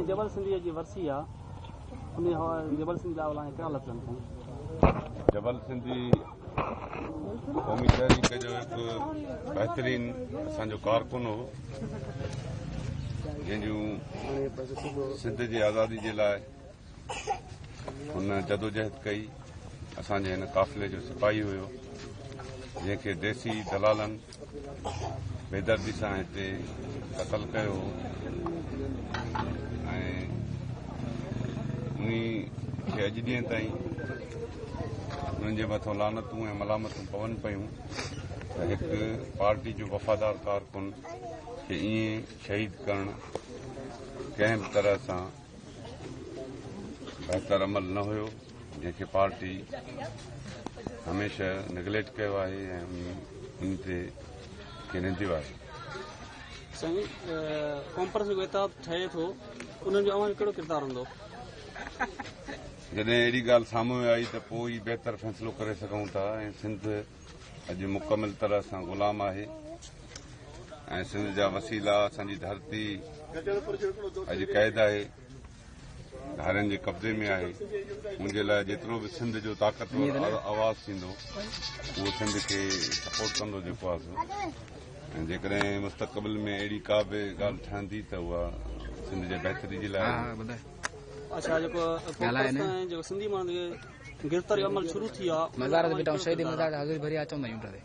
جبل سنڌيء جي ورسي آ. انهيء هوا جبل سنڌي ڏانهن ولاڻي ڪهڙا لفظ اٿئي؟ جبل سنڌي قومي تحريڪ جو هڪ بهترين اسان جو ڪارڪن هو جنهن جون سنڌ جي آزادي جي لاء هن جدوجهد ڪئي اسان جي هن قافلي جو سپاهي هيو جنهن کي ديسي دلالن بيدردي سان هتي قتل ڪيو هو ۽ انهي کي اڄ ڏينهن تائين انهن جي مٿو لعنتون ۽ ملامتون پون پيون ته هڪ پارٽي جو وفادار ڪارڪن کي ائين شهيد ڪرڻ ڪنهن به طرح سان بهتر عمل نه هيو جنهن کي پارٽي هميشه نيگليڪٽ ڪيو آهي ۽ ان تي کي ننديو آهي. سائين ڪانفرنس جو احتاب ٺهي ٿو ان جو اوهان جو ڪهڙو ڪردار هوندو؟ جڏهن اهڙي ڳالهه سامهون آئي ته پوء ئي بهتر فيصلو ڪري سگهون ٿا ۽ سنڌ اڄ مڪمل طرح سان غلام آهي ۽ سنڌ جا وسيلا اسان جي ڌرتي اڄ قيد آهي. ڌارين جي قبضي ۾ آهي ان جي لاء جيترو به سنڌ جو طاقتور آواز ٿيندو اهو سنڌ کي سپورٽ ڪندو جيڪو آهي سو جيڪڏهن مستقبل ۾ اهڙي ڪا به ڳالهه ٺهندي ته اها سنڌ جي بهتري جي لاء گرفتاري عمل شروع ٿي آ. مزار تي بيٺا آهيون شهيد مزار تي حاضري ڀري آ چون ٿا يونٽ تي.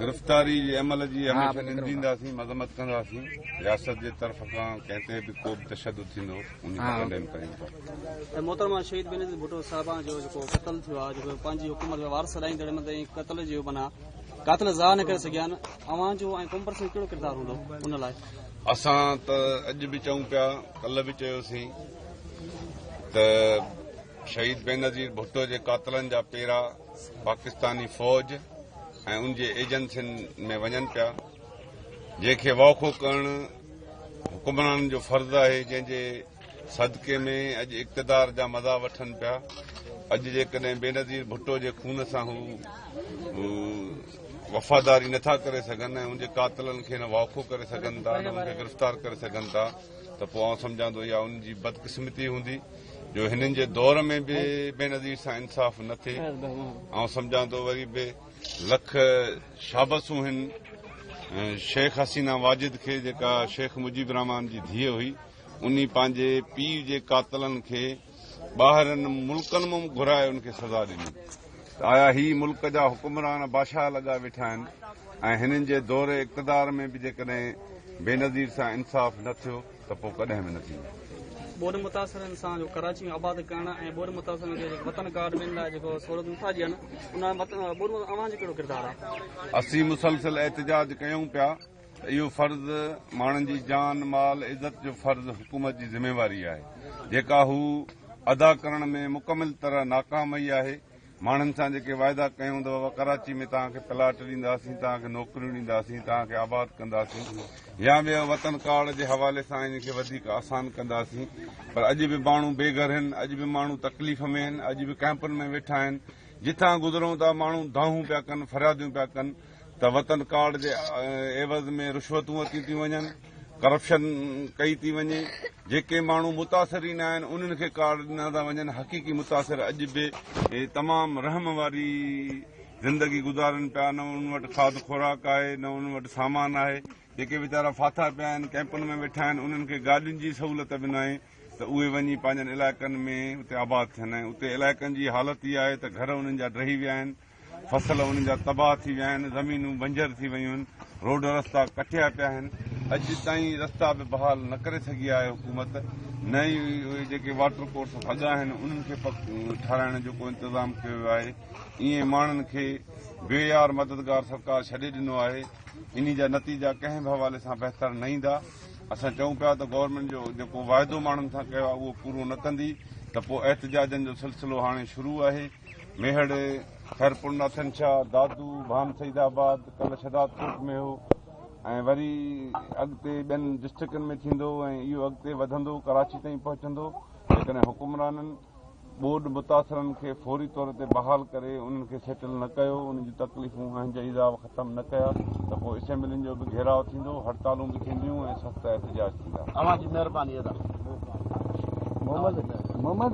گرفتاري جي عمل جي هميشه نندينداسين مذمت ڪنداسين رياست جي طرف کان ڪنهن تي به ڪو به تشدد ٿيندو ان جي ڪنڊيم ڪريون ٿا. ۽ محترمه شهيد بينظير ڀٽو صاحبان جو جيڪو قتل ٿيو آ جيڪو پنهنجي حڪومت ۾ وارث سڏائيندڙ مت ۽ قتل جو معنيٰ قاتل ظاهر نه ڪري سگهيا آهن اوهان جو ۽ ڪمپرس ۾ ڪهڙو ڪردار هوندو ان لاء اسان ته اڄ به چئون پيا ڪلهه به چيوسين ته شهيد بينظير ڀٽو جي قاتلن جا پيرا پاڪستاني فوج ۽ ان جي ايجنسين ۾ وڃن پيا جنهن کي واکو ڪرڻ حڪمرانن جو فرض آهي جنهن جي صدقي ۾ اڄ اقتدار جا مزا وٺن پيا اڄ جيڪڏهن بينظير ڀٽو جي خون سان هو وفاداري نٿا ڪري سگهن ۽ ان جي قاتلن کي نه واکو ڪري سگهن ٿا نه ان کي گرفتار ڪري سگهن ٿا ته پوء آئون سمجهان ٿو اها ان جي بدقسمتي هوندي جو هنن جي دور ۾ به بينظير سان انصاف نه ٿئي آئون سمجهان ٿو وري به لک شابسون هن شيخ حسينا واجد کي جيڪا شيخ مجيب الرحمان جي ڌيء هئي ان پنهنجي پيء جي قاتلن کي ٻاهرن ملڪن مان گهرائي ان کي سزا ڏني آيا هي ملڪ جا حڪمران بادشاهه لڳا ويٺا آهن ۽ هنن جي دور اقتدار ۾ به جيڪڏهن بينظير سان انصاف نه ٿيو ته پوء ڪڏهن به نه ٿيندو. ٻوڏ متاثرن سان جو ڪراچي ۾ آباد ڪرڻ ۽ ٻوڏ متاثرن کي وطن ڪارڊ ڏيڻ لاء جيڪو سهولت نٿا ڏين ان ۾ ٻوڏ متاثرن اوهان جو ڪهڙو ڪردار آهي؟ اسين مسلسل احتجاج ڪيون پيا ته اهو فرض ماڻهن جي جان مال عزت جو فرض حڪومت جي ذميواري آهي جيڪا هو ادا ڪرڻ ۾ مڪمل طرح ناڪام وئي آهي، ماڻهن سان جيڪي وعدا ڪيا هوندؤ، ڪراچي ۾ توهان کي پلاٽ ڏينداسين، توهان کي نوڪريون ڏينداسين، توهان کي آباد ڪنداسين يا ٻيو وطن ڪارڊ جي حوالي سان انهن کي وڌيڪ آسان ڪنداسين پر اڄ به ماڻهو بي گهر هن، اڄ به ماڻهو تڪليف ۾ هن، اڄ به ڪئمپن ۾ ويٺا آهن، جتان گذرون ٿا ماڻهو دانهون پيا ڪن، فرياديون پيا ڪن ته وطن ڪارڊ جي عيوض ۾ رشوتون ورتيون ٿيون وڃن. ڪرپشن ڪئي ٿي وڃي جيڪي ماڻهو متاثرين آهن انهن کي ڪارڊ ڏنا ٿا وڃن حقيقي متاثر اڄ به تمام رحم واري زندگي گذارن پيا نه انهن وٽ کاڌ خوراڪ آهي نه انهن وٽ سامان آهي جيڪي ويچارا ڦاٿا پيا آهن ڪيمپن ۾ ويٺا آهن انهن کي گاڏين جي سهولت به نه آهي ته اهي وڃي پنهنجن علائقن ۾ اتي آباد ٿين اتي علائقن جي حالت اها آهي ته گهر انهن جا ڊهي ويا آهن فصل انهن جا تباهه ٿي ويا آهن، زمينون بنجر ٿي ويون آهن، روڊ رستا ڪٽيا پيا آهن، اڄ تائين رستا به بحال نه ڪري سگهي آهي حڪومت، نه ئي اهي جيڪي واٽر ڪورس ڀڳا آهن انهن کي ٺهرائڻ جو ڪو انتظام ڪيو ويو آهي، ايئن ماڻهن کي بي يار مددگار سرڪار ڇڏي ڏنو آهي، انهي جا نتيجا ڪنهن به حوالي سان بهتر نه ايندا، اسان چئون پيا ته گورنمينٽ جو جيڪو واعدو ماڻهن سان ڪيو آهي اهو پورو نه ڪندي ته پوء احتجاجن جو سلسلو هاڻي شروع آهي. ميهڙ، خيرپور ناٿن شاهه، دادو، ڀان سيد آباد، ڪلهه شهداد ڪوٽ ۾ هو ۽ وري اڳتي ٻين ڊسٽرڪٽن ۾ ٿيندو ۽ اهو اڳتي وڌندو ڪراچي تائين پهچندو جيڪڏهن حڪمرانن ٻوڏ متاثرن کي فوري طور تي بحال ڪري انهن کي سيٽل نه ڪيو انهن جون تڪليفون اهن جا عذاب ختم نه ڪيا ته پوء اسيمبلين جو به گهيراء ٿيندو هڙتالون به ٿينديون ۽ سخت احتجاج ٿيندا اوهان جي مهرباني ادا محمد محمد